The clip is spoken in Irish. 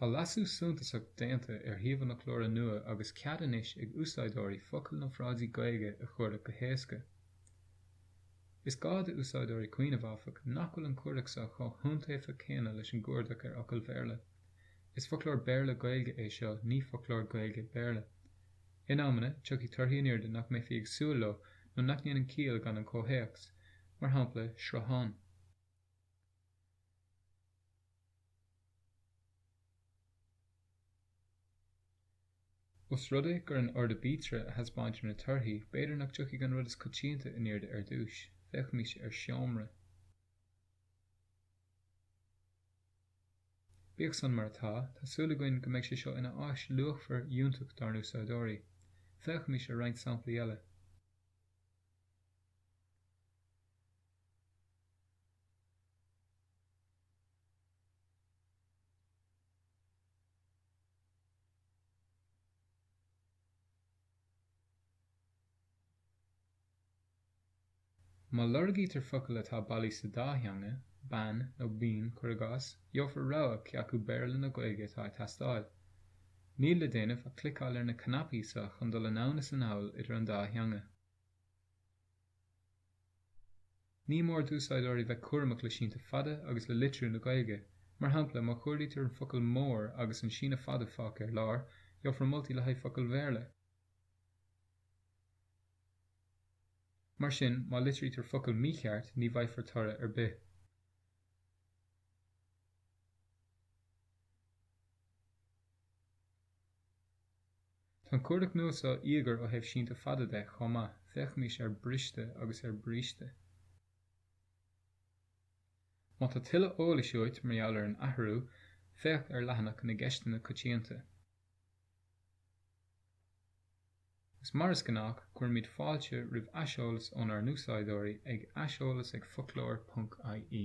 Tá leasú suntasach déanta ar shuíomh an fhoclóra nua agus cead anois ag úsáideoirí focail nó frásaí Gaeilge a chuardach go héasca. Is gá d'úsáideoirí cuimhneamh, áfach, nach bhfuil an cuardach seo chomh hiontaofa céanna leis an gcuardach ar fhocail Bhéarla. Is foclóir Béarla-Gaeilge é seo, ní foclóir Gaeilge-Béarla. In amanna, tiocfaidh torthaí in airde nach mbeifí ag súil leo nó nach ndéanann ciall gan an comhthéacs, mar shampla Sruthán. Os rud é gur in ord aibítre a thaispeáintear na torthaí, b'fhéidir nach dtiocfaidh an rud is coitianta in airde ar dtúis. Féachaimis ar Seomra. Bíodh san mar atá, tá súil againn go mbeidh sé seo ina áis luachmhar fhiúntach dár n-úsáideoirí. Féachaimis ar roinnt samplaí eile. Má lorgaítear focal atá bailí sa dá theanga, bean nó bean, cuir i gcás, gheofar rogha cé acu Béarla nó Gaeilge atá ag teastáil. Níl le déanamh ach cliceáil ar na cnaipí so chun dul anonn is anall idir an dá theanga. Ní mór d'úsáideoirí bheith cúramach le sínte fada agus le litriú na Gaeilge. Mar shampla, má chuardaítear an focal 'mór' agus an síneadh fada fágtha ar lár, gheofar moltaí le haghaidh focail Bhéarla. Mar sin, má litrítear focal mícheart, ní bhfaighfear toradh ar bith. Tá an cuardach nua so íogair ó thaobh sínte fada de chomh maith, féachaimis ar briste agus ar bríste. Má tá tuilleadh eolais uait mar gheall ar an athrú, féach ar leathanach na gCeisteanna Coitianta. Is mar is gnách, cuirimid fáilte roimh aiseolas ónár n-úsáideoirí ag aiseolas ag foclóir ponc IE.